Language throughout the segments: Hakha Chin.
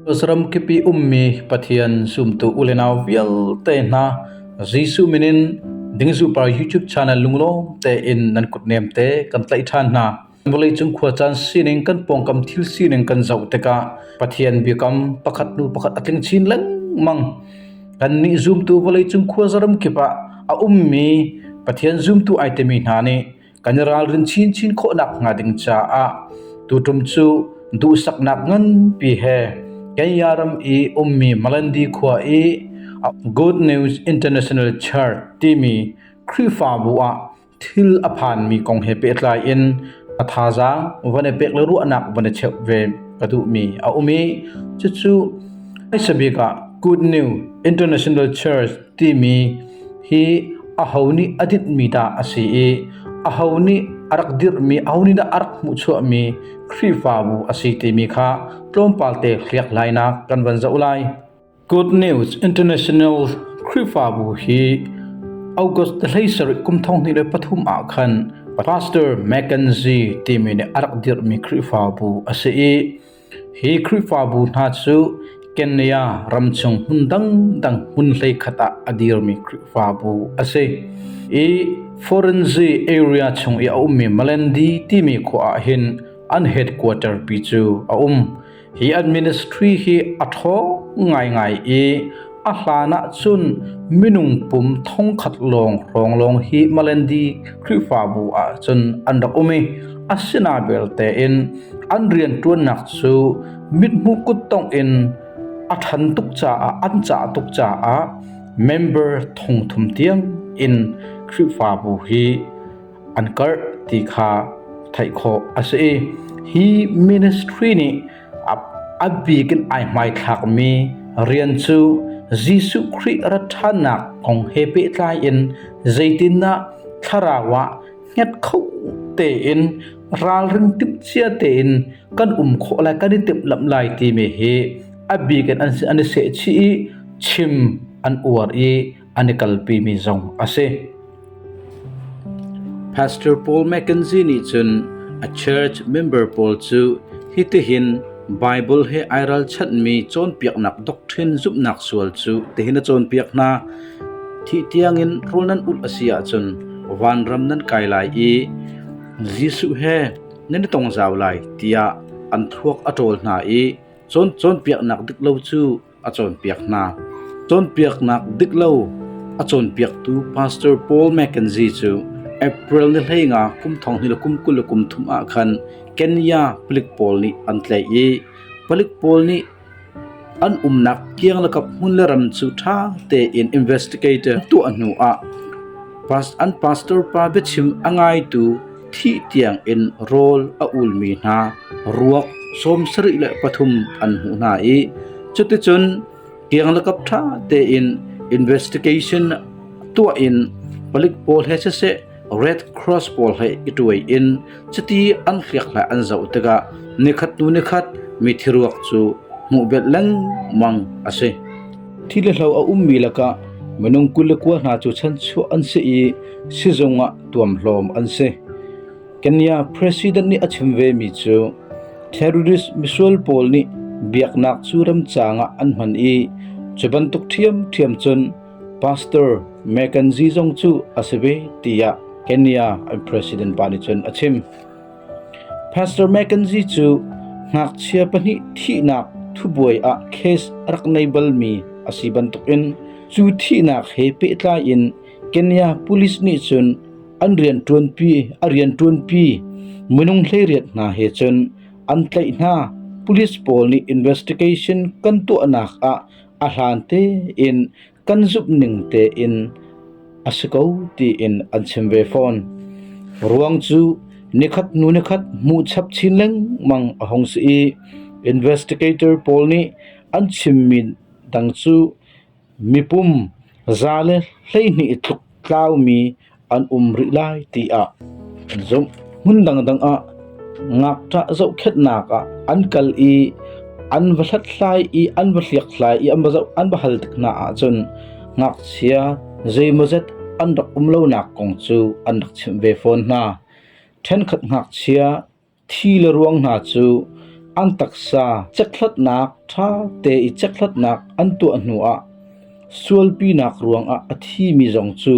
US ram kippi ummi Pathian zumtu u le nau vialte hna, Jesuh min in Dingzuhpar YouTube channel lunglawm tein nan kutnem te kan tlaih ṭhan hna. Vawleicung khuacaan sining kan pawngkam thil sining kan zoh tikah Pathian biakam pakhat hnu pakhat a tling chin lengmang. Kannih zumtu vawleicung khua zaram kip ah a ummi Pathian zumtu ai timi hna nih kan i ralrin chinchin khawhnak hnga ding caah tutum cu duhsaknak nganpi he Kenya ram i ummi Malandi khua i Good News International Church timi Khrihfabu ah Thil a phanmi kong he pehtlai in a thazaang van i pek le ruahnak van i cheuh ve ka duhmi a um i cucu hmaisa bik ah Good New International Church timi hi aho nih a dinhmi dah a si i aho nih a rak dirhmi aho nih dah a rak hmuhchuahmi Khrihfabu a si timi kha tlawmpalte hliak lainak kan van zoh lai. Good News International Khrihfabu hi August hlei sarih kum thong hnih le pathum ah khan Pastor Mackenzie timi nih a rak dirhmi Khrihfabu a si i hi Khrihfabu hna cu Kenya ram chung hmun dangdang hmun hlei khat ah a dirmi Khrihfabu a si i Forenzi area chung i a ummi Malandi timi khua ah hin an headquarter pi cu a um Hi an ministry hi a ṭha ngaingai i a hlan ah cun minung pum thongkhat lawng hrawng lawng hi Malandi Khrihfabu ah cun an rak um i asina belte in an rianṭuannak cu mithmu kuttongh in a ṭhan tuk caah an cah tuk caah member thongthum tiang in Khrihfabu hi an karh ti kha theih khawh a si i hi ministry nih a bik in ai hmaithlakmi rian cu Jesuh Khrih ra ṭhannak kong he pehtlai in zeitindah thlarau ah hnget kho tein ralring timhcia tein kan um khawh lai kan i timhlamh lai timi hi a bik in an i sehchih i chim an uar i an i kalpimi zong a si. Pastor Paul McKenzie nih cun a church member pawl cu hitihin Bible he ai ralchanhmi cawnpiaknak doctrine zumhnak sual cu tihin a cawnpiak hna thi tiangin rul nan ulh a si ahcun vanram nan kai lai i Jesuh he nan i tong zau lai tiah an thuak a ṭawl hna i cawn cawnpiaknak dik lo cu a cawnpiak hna. Cawnpiaknak dik lo a cawnpiaktu Pastor Paul McKenzie cu April ni hlei nga kum thong ni le kum kul le kum thum ah khan Kenya palik pawl nih an tlaih i palik pawl nih an umnak kiang lakap hmun le ram cu ṭha tein investigator tuah hnu ah an pastor pa biachim a ngaitu Thih tiangin rawl a ulmi hna ruak sawm sarih le pathum an hmuh hna i cuticun kianglakap ṭha tein investigation tuah in palik pawl he siseh Red Cross pawl he i tuai in chiti an hliakhlai an zoh tikah nikhat hnu nikhat mithi ruak cu hmuh belh lengmang a si. Thi le hlo a ummi lakah minung kul le kua hna cu chanchuah an si i sizung ah tuamhlawm an si. Kenya president nih a chim vemi cu terrorist misual pawl nih biaknak cu ramcaang ah an hman i cu bantuk ṭhiamṭhiam cun Pastor Mekanji zong cu a si ve tiah Kenya president pa nih cun a chim. Pastor McKenzie cu ngakchia pahnih thihnak thubuai ah case a rak nei balmi a si bantukin cu thihnak he pehtlai in Kenya police nih cun an rianṭuanpi a rianṭuanpi minung hleiriat hna he cun an tlaih hna. Police pawl nih investigation kan tuahnak ah a hlan tein kan zumh ning tein a si ko tiin an chim ve fawn. Ruang cu nikhat hnu nikhat hmuh chap chin lengmang a hong si i investigator pawl nih an chimmi dang cu mipum za le hleihnih tluk tlaumi an um rih lai tiah an zumh. Hmun dangdang ah ngakṭah zohkhenhnak ah an kal i an va hlathlai i an va hliakhlai i an va zoh an va hal tik hna ahcun ngakchia zeimawzet an rak um lonak kong cu an rak chimh ve fawn hna. Ṭhenkhat ngakchia Thi le ruang hna cu an taksa cekhlatnak ṭha te i cekhlatnak an tuah hnuah sualpinak ruangah a thimi zong cu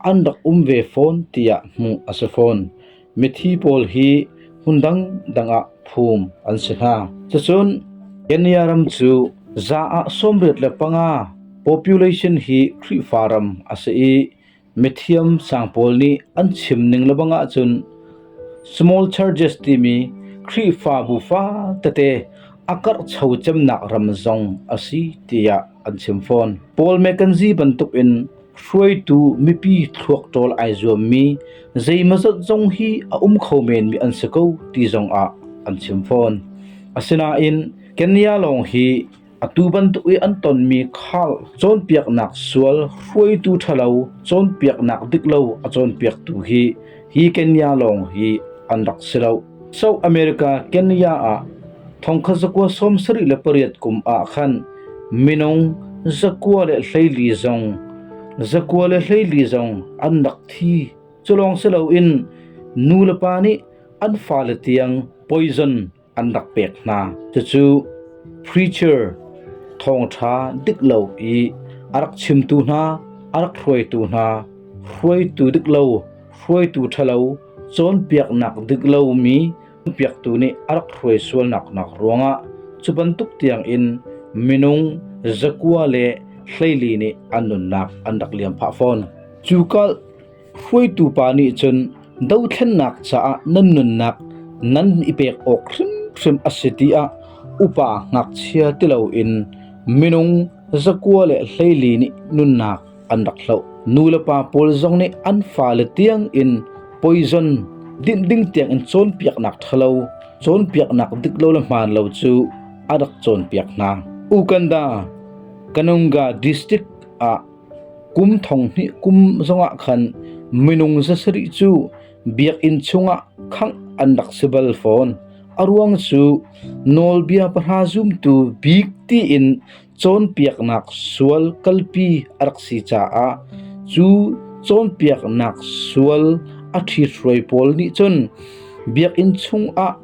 an rak um ve fawn tiah hmuh a si fawn. Mithi pawl hi hmun dangdang ah phum an si hna. Cucun Kenya ram cu za ah sawmriat le panga population hi Khrihfa ram a si i Mithiam sang pawl nih an chim ning lebang ahcun small churches timi Khrihfabu fatete a karhcho cemnak ram zong a si tiah an chim fawn. Paul Mackenzie bantukin hruaitu mipi thluak ṭawl ai zuammi zeimazat zong hi a um kho menmi an si ko ti zong ah an chim fawn. Asinain Kenya lawng hi Atu bantuk i an tonmi khal cawnpiaknak sual hruaitu ṭhalo cawnpiaknak dik lo a cawnpiaktu hi hi Kenya lawng hi an rak si lo. South America Kenya ah thongkha zakua sawm sarih le pariat kum ah khan minung zakua le hleili zong zakua le hleili zong an rak thi. Culawng si loin nu le pa nih an fale tiang poison an rak pek hna. Cucu preacher thawngṭha dik lo i a rak chimtu hna, a rak hruaitu hna, hruaitu dik lo, hruaitu ṭhalo, cawnpiaknak dik lomi piaktu nih a rak hruai sualnak nak ruangah cu bantuk tiangin minung zakua le hleili nih an nunnak an rak liam phah fawn. Cu kal Hruaitu pa nih cun dothlennak caah nan nunnak nan i pek awk hrimhrim a si tiah upa ngakchia ti loin minung, zakua le hleili nih nunnak an rak hloh. Nulepa pawl zong nih an fale tiangin poison dinh ding tiangin cawnpiaknak ṭhalo, cawnpiaknak dik lo le hmaan lo cu a rak cawnpiak hna. Uganda, Kanunga District ah Kum thong hnih kum zongah khan minung zasarih cu biakinn chungah khangh an rak si bal fawn. A ruang cu nawlbia pahra zumtu bik tiin cawnpiaknak sual kalpi a rak si caah cu cawnpiaknak sual a ṭhithruai pawl nih cun biakinn chungah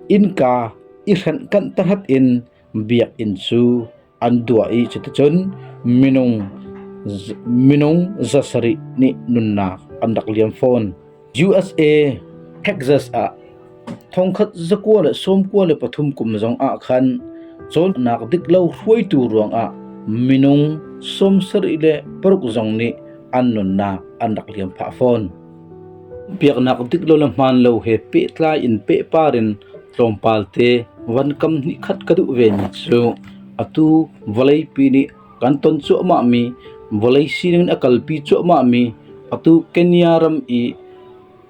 innka i hrenh kanh tahat in biakinn cu an duah i cuticun minung za sarih nih nunnak an rak liam fawn. USA Texas ah thongkhat zakua le sawmkua le pathum kum zong ah khan cawnnak dik lo hruaitu ruangah minung sawmsarih le paruk zong nih an nunnak an rak liam phah fawn. Biaknak dik lo le hmaan lo he pehtlai in pehpar in Tlawmpal te van kam hnih khat ka duh vemi cu atu vawleipi nih kan ton cuahmahmi vawlei sining a kalpi cuahmahmi atu Kenya ram i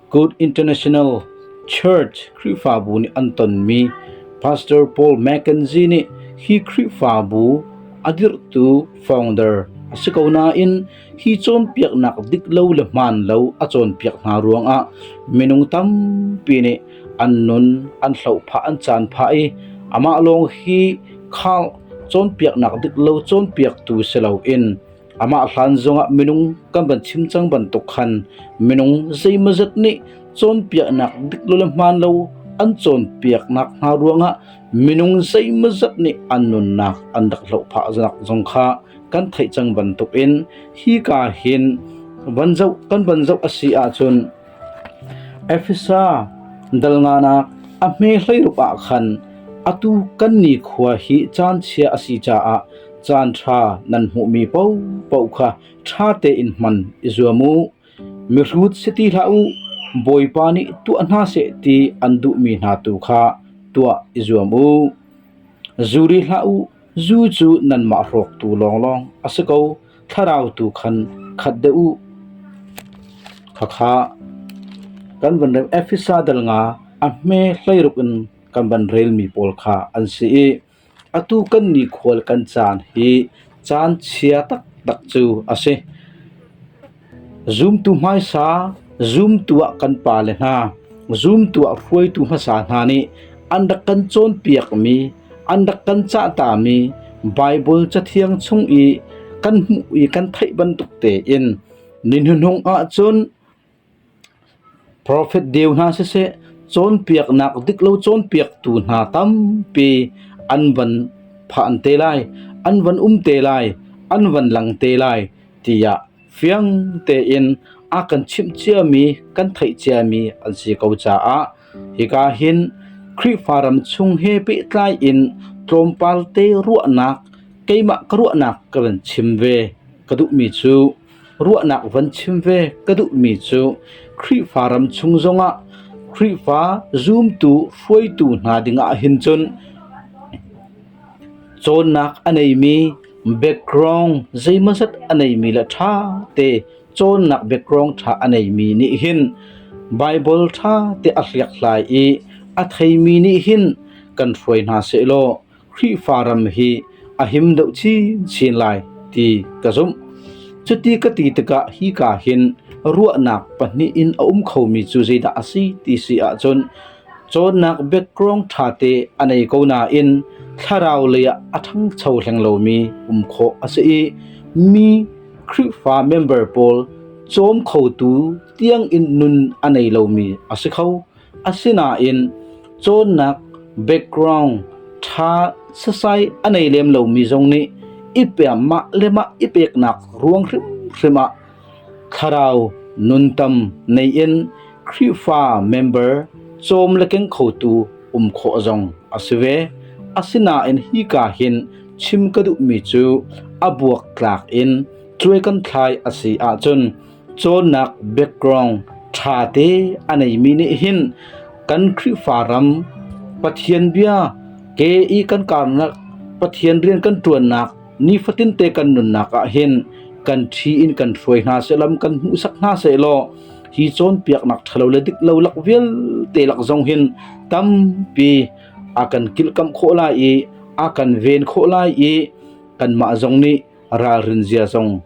Good International Church Khrihfabu nih an tonmi Pastor Paul McKenzie nih hi Khrihfabu a dirhtu founder a si ko nain hi cawnpiaknak dik lo le hmaan lo a cawnpiak hna ruangah minung tampi nih an nun an hlohphah an caan phah i amah lawng hi khang cawnpiaknak dik lo cawnpiaktu si loin amah hlan zongah minung kan van chim cang bantuk khan minung zeimazat nih cawnpiaknak dik lo le hmaan lo an cawnpiaknak hna ruangah minung zeimazat nih an nunnak an rak hlohphah zong kha kan theih cang bantukin hika hin van zoh kan van zoh a si ahcun Efesa dalnganak a hme hleirup ah khan atu kan ni khua hi caan chia a si caah caan ṭha nan hmuhmi popo kha ṭha tein hman i zuam u mihrut si ti hlah u bawipa nih tuah hna seh ti an duhmi hna tu kha tuah i zuam u zuri hlah u Zu cu nanmah hrawktu lawnglawng a si ko, thlarau tu khan khat deh u. Khakha kan van rem Efesa dal nga a hme hleiruk in kan van relmi pawl kha an si i atu kan nikhual kan caan hi caan chia taktak cu a si. Zumtu hmaisa, zumtu ah kan pale hna, zumtu ah hruaitu hmasa hna nih an rak kan cawnpiakmi, an rak kan cahtami Baibal Cathiang chung i kan hmuh i kan theih bantuk tein ni hnuhnung ahcun Profet deu hna siseh, cawnpiaknak dik lo cawnpiaktu hna tampi an van phan te lai, an van um te lai, an van lang te lai tiah fiang tein a kan chimh ciami, kan theih ciami an si ko caah hika hin Khrihfa ram chung he pehtlai in tlawmpal te ruahnak keimah ka ruahnak ka van chim ve ka duhmi cu Ruahnak van chim ve ka duhmi cu Khrihfa ram chung zongah Khrihfa zumtu hruaitu hna dingah hin cun cawnnak a neimi background zeimazat a neimi le ṭha te cawnnak background ṭha a neimi nih hin Baibal ṭha te a hliakhlai i a theimi nih hin kan hruai hna sehlaw Khrihfa ram hi a him deuh chinchin lai ti ka zumh. Cuti ka ti tikah hika hin ruahnak pahnih in a um khomi cu zeidah a si ti si ahcun cawnnak background ṭha te a nei ko nain thlarau lei ah a ṭhangcho hleng lomi um khawh a si i mi Khrihfa member pawl cawm khotu tiangin nun a nei lomi a si kho. Asinain cawnnak background ṭha sasai a nei lem lomi zong nih i peem mah le mah i peknak ruang hrimhrim ah thlarau nuntam nei in Khrihfa member cawm le keng khotu um khawh zong a si ve. Asinain hi ka hin chim ka duhmi cu a buak tlak in cuai kan thlai a si ahcun cawnnak background ṭha te a neimi nih hin kan Khrihfa ram Pathian bia ke i kan karnak Pathian rian kan ṭuannak nifatin te kan nunnak ah hin kan thi in kan hruai hna selam kan hmuhsak hna se law hi cawnpiaknak ṭhalo le dik lo lak vial te lak zong hin tampi a kan kilkam khawh lai i a kan ven khawh lai i kanmah zong nih ralrin zia zong